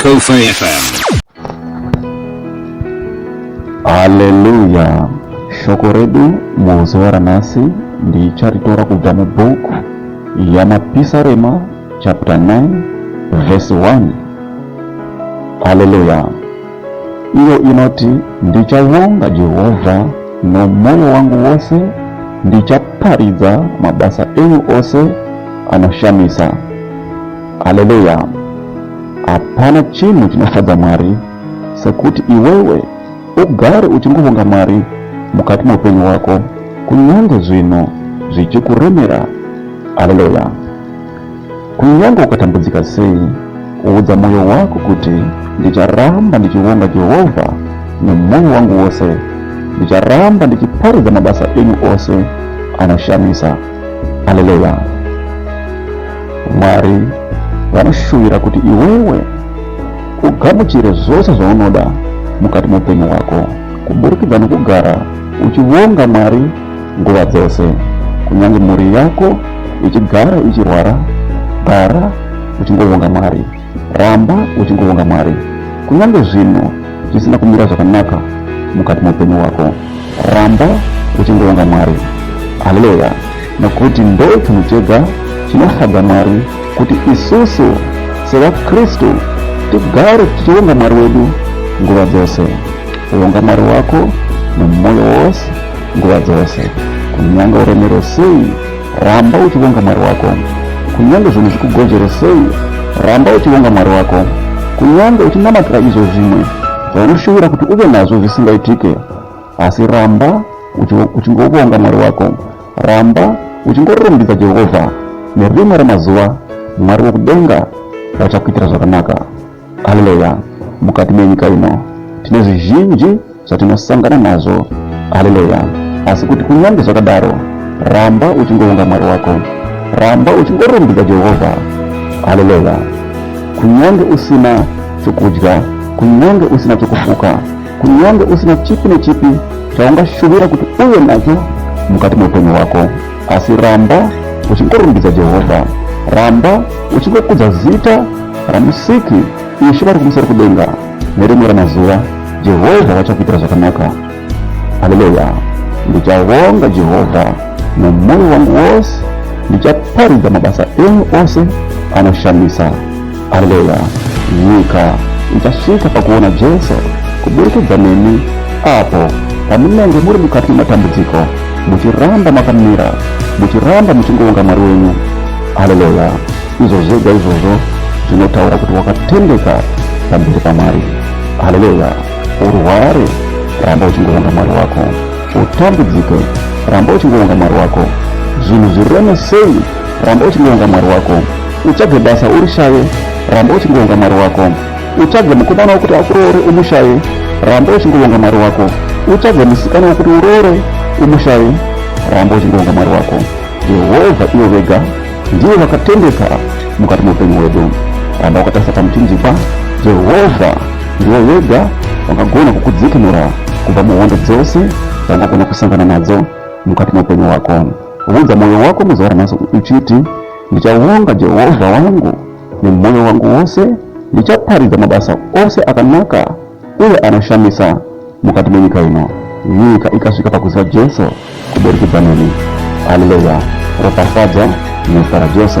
Kofa FM. Haleluya. Shoko redu muzuva ranhasi ndicharitora kubva mubhuku yamapisarema chapter 9 verse 1. Haleluya. iyo inoti ndichavonga jehovha nomwoyo wangu wose ndichaparidza mabasa enyu ose anoshamisa haleluya hapana chinhu chinofadza mwari sekuti iwewe ugare uchingovonga mwari mukati meupenyu hwako kunyange zvinhu zvichikuremera haleluya Kunyange ukatambudzika sei, udza mwoyo wako kuti, Ndicharamba ndichivonga Jehovha nemwoyo wangu wose. Ndicharamba ndichiparidza mabasa enyu ose anoshamisa. Aleluya! Mwari vanoshuvira kuti iwewe ugamuchire zvose zvaunoda mukati meupenyu hwako kuburikidza nokugara uchivonga Mwari Nguva dzose, kunyange mhuri yako ichigara ichirwara, gara uchingovonga Mwari. Ramba uchingovonga Mwari. Kunyange zvinhu zvisina kumira zvakanaka mukati meupenyu hwako, ramba uchingovonga Mwari. Haleluya! Nokuti ndo chinhu chega chinofadza Mwari kuti isusu sevaKristu tigare tichivonga Mwari wedu nguva dzose. Vonga Mwari wako nomwoyo wose nguva dzose. Kunyange uremero sei, ramba uchivonga Mwari wako. Kunyange zvinhu zvikugonzvere sei, ramba uchivonga Mwari wako. Kunyange uchinamatira izvo zvimwe zvaunoshuvira kuti uve nazvo zvisingaitike, asi ramba uchingovonga Mwari wako. Ramba uchingororumbidza Jehovha. Nerimwe remazuva, Mwari wokudenga vachakuitira zvakanaka. Haleluya! Mukati menyika ino tine zvizhinji zvatinosangana nazvo. Haleluya! Asi kuti kunyange zvakadaro, ramba uchingounga Mwari wako, ramba uchingorumbidza Jehovha. Haleluya! Kunyange usina chokudya, kunyange usina chokufuka, kunyange usina chipi nechipi chaungashuvira kuti uve nacho mukati meupenyu hwako. asi ramba uchingorumbidza jehovha ramba uchingokudza zita ramusiki ishe vari kumusoro kudenga nerimwe ramazuva jehovha vachakuitira zvakanaka haleluya ndichavonga jehovha nemwoyo wangu wose ndichaparidza mabasa enyu ose anoshamisa Haleluya. Nyika ichasvika pakuona Jesu kuburikidza nemi apo pamunenge muri mukati mematambudziko muchiramba makamira muchiramba muchingoonga mwari wenyu haleluya izvo zvega izvozvo zvinotaura kuti wakatendeka pamberi pamwari haleluya urware ramba uchingoonga mwari wako utambudzike ramba uchingoonga mwari wako zvinhu zvireme sei ramba uchingonga mwari wako utsvage basa urishaye ramba uchingonga mwari wako utsvage mukomana wekuti akuroore umushaye ramba uchingonga mwari wako utsvage musikana wekuti uroore umushaye ramba uchingonga mwari wako jehovha ivo vega ndivo vakatendeka mukati meupenyu hwedu ramba wakatarisa pamuchinjikwa jehovha ndivo vega vangagona kukudzikinura kubva muhondo dzose dzangagona kusangana nadzo mukati meupenyu hwako Unza mwoyo wako muzuva ranhasi uchiti, Ndichavonga Jehovha wangu nemwoyo wangu wose, ndichaparidza mabasa ose akanaka uye anoshamisa mukati menyika ino. Nyika ikasvika pakuziva Jesu kuburikidza neni. Haleluya! Ropafadzwa nezita raJesu.